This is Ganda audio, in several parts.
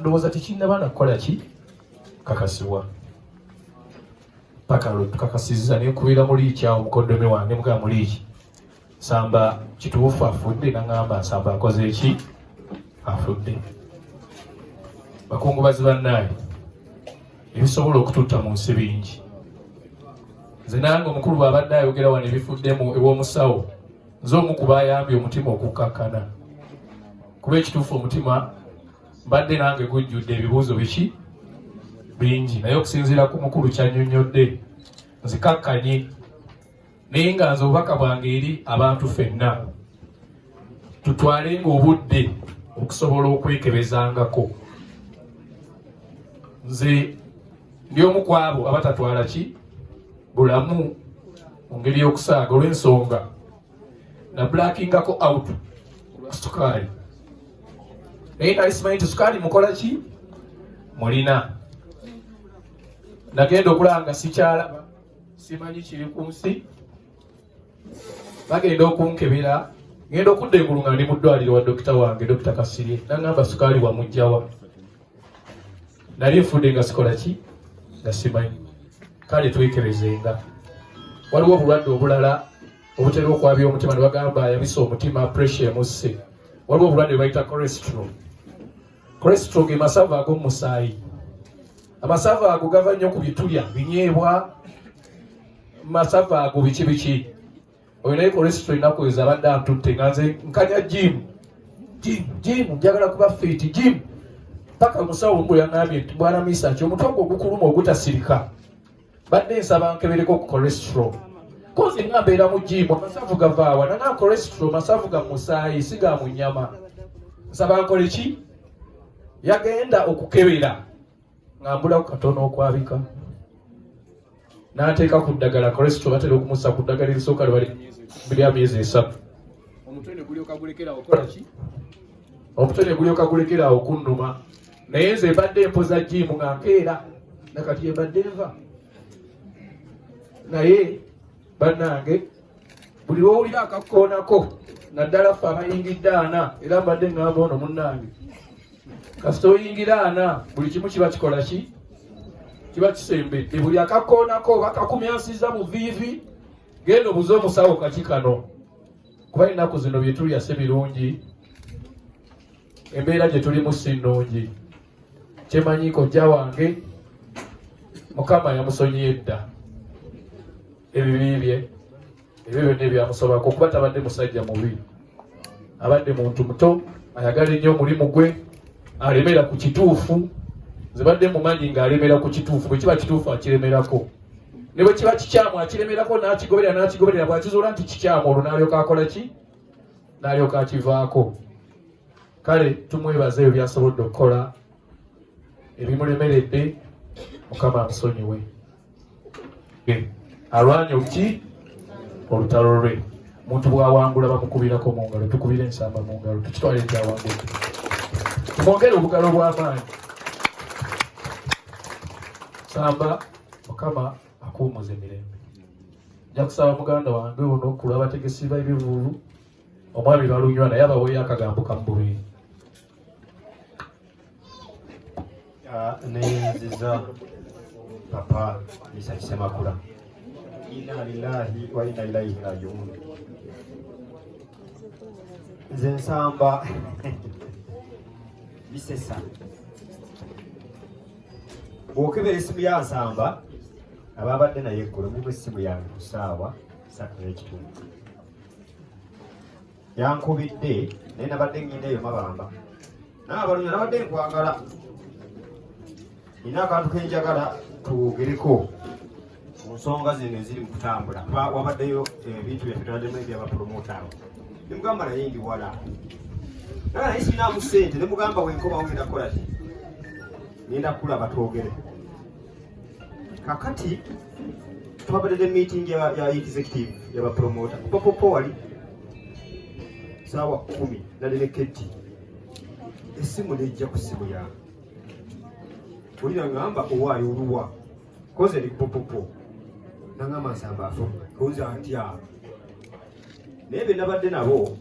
ndowooza tekinnaba na kukola ki kakasibwa paka lwe tukakasizza ne nkubira muliiki awo mukoddomi wange mugamba muliiki nsamba kituufu afudde naŋamba nsamba akoze ki afudde bakungubazi bannaye ebisobola okututta mu nsi bingi nze nange omukulu bwabadde ayogera wano ebifuddemu ew'omusawo nze omu ku bayambye omutima okukkakkana kuba ekituufu omutima mbadde nange gujjudde ebibuuzo biki bingi naye okusinziira ku mukulu kyanyonnyodde nzikakkanye naye nga nze obubaka bwange eri abantu fenna tutwalenga obudde okusobola okwekebezangako nze ndi omu ku abo abatatwala ki bulamu mu ngeri y'okusaaga olw'ensonga na blackingako out sukaali naye nali simanyi nti sukaali mukola ki mulina nagenda okulaba nga sikyalaba simanyi kiri ku nsi bagenda okunkebera ngenda okudda engulu nga ndi mu ddwaliro wa dokita wange dokita kasirye nangamba sukaali wamugjawa nali nfudde nga sikola ki nga simanyi kale twekerezenga waliwo obulwadde obulala obutera okwabya omutima ne bagamba yabisa omutima pressure emusse waliwo obulwadde bwebayita corestro Cholesterol ge masavu ag'omu musaayi. Amasavu ago gava nnyo ku bitulya, binyeebwa, masavu ago biki biki. Oyo naye cholesterol ennaku ezo abadde antutte nga nze nkanya jiimu jiimu jiimu njagala kuba fiiti jiimu paka omusawo omu yangambye nti bwana misaki omutwe gwo ogukuluma ogutasirika badde nsaba nkebereko ku cholestro kozi nga mbeera mu jiimu amasavu gavaawa nana cholestro masavu ga musaayi si ga mu nyama nsaba nkole ki yagenda okukebera nga mbulaku katono okwabika n'ateeka ku ddagala cholestro batera okumusa ku ddagala erisooka lwali lya myezi esatu omutwe ne gulyoka gulekerawo okunuma naye nze mbadde mpoza jiimu nga nkeera nakati yembadde nva naye bannange buli lwowulira akakkoonako naddala ffe abayingidde ana era mbadde ngamba ono munnange kasita oyingira ana buli kimu kiba kikola ki kiba kisembedde buli akakkoonako oba kakumyansiza mu viivi genda obuze omusawo kaki kano kuba ennaku zino byetulya si birungi embeera gye tulimu si nnungi kyemanyi kojja wange mukama yamusonyiye dda ebibi bye ebyo byonna ebyamusobako kuba tabadde musajja mubi abadde muntu muto ayagala ennyo omulimu gwe alemera ku kituufu zibadde mumanyi ng'alemera ku kituufu bwe kiba kituufu akiremerako ne bwe kiba kikyamu akiremerako n'akigoberera n'akigoberera bw'akizuula nti kikyamu olwo n'alyoka akola ki n'alyoka akivaako kale tumwebaza ebyo byasobodde okukola ebimulemeredde mukama amusonyiwe alwanye obuki olutalo lwe muntu bwawangula bamukubirako mu ngalo tukubire ensamba mu ngalo tukitwale ekyawangula tumwongere obugalo bw'amaanyi samba mukama akuwumuze mirembe nja kusaba muganda wange ono kulwa abategesi ba ebivuulu omwami balunywa naye abaweeyo akagambo kamububeeri ah, neyenziza papa misa kisemakula ina lilahi wa ina ilaihi rajiun nze nsamba bisesa bw'okebera essimu ya nsamba abaabadde naye eggulo mulimu essimu yange ku ssaawa satu n'ekitundu yankubidde naye nabadde ngenda eyo mabamba naye abalunyo nabadde nkwagala nina akantu kenjagala tuwogereko ku nsonga zino eziri mu kutambula kuba wabaddeyo eh, ebintu byaffe twaddemu ebyabapromota abo nemugamba naye ndi wala naye naye sirinamu ssente nemugamba wenkoba wenda kukola ki ngenda kulaba twogere kakati twabadde ne meeting ya executive yabapromota kubapopo wali saawa kumi nali ne ketti esimu nejja ku simu yange olira ngamba owaayo oluwa koze eri pupupu nangamba nsamba afo kunza ntya naye be nabadde nabo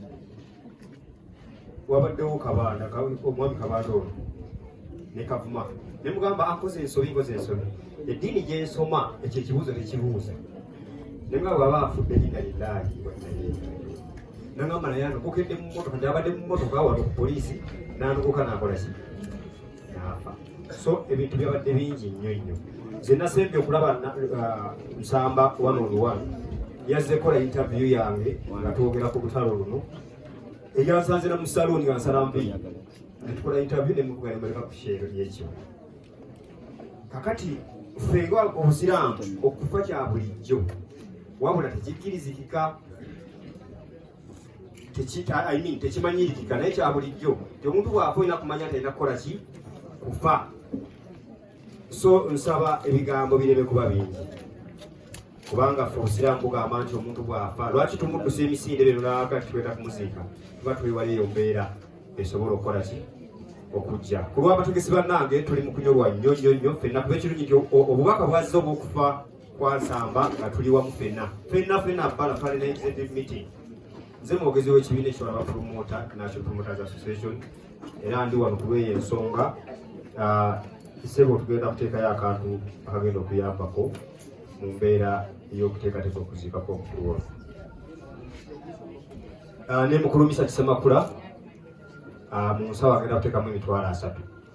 wabaddewo kabaana omwami kabaana ono ne kavuma ne mugamba akoze ensobi nkoze ensobi eddiini gyensoma ekyo ekibuuzo tekibuuza ne mugamba baba afudde linda lilahi nangamba naye anokokedde mu motoka ndyabadde mu motoka wano ku poliisi nanokoka nakola ki naafa so ebintu byabadde bingi nnyo nnyo nze nasembye okulaba uh, nsamba one on one yazze kola interview yange nga twogera ku lutalo luno eyansanze na musaluuni nga nsala mpi netukola interview nemuvuga nemuleka ku sheero lyekyo kakati fenga obusiraamu okufa kya bulijjo wabula tekikkirizikika tekimanyirikika naye kya bulijjo nti omuntu bw'afa olina kumanya nti alina kukola ki kufa so nsaba ebigambo bireme kuba bingi kubanga fe obusiraamu bugamba nti omuntu bw'afa lwaki tumuddusa emisinde bino naaka kitweta kumuziika tuba tuliwala eyo mbeera esobola okukola ki okujja ku lw'abategesi bannange tuli mu kunyolwa nnyo nnyo nnyo ffenna kuba ekirungi nti obubaka bwazze obw'okufa Kwasamba nga tuli wamu fenna fenna fenna bala pale na executive meeting nze mwogezi w'ekibiina ekiwalaba promoter National Promoters Association era ndi wano kulweyo ensonga ah, sebo tugenda kuteekayo akantu akagenda okuyambako mu mbeera ey'okuteekateeka okuziikako omukulu waffe ah, ne mukulumisa kisemakula ah, mu nsawo agenda kuteekamu emitwalo asatu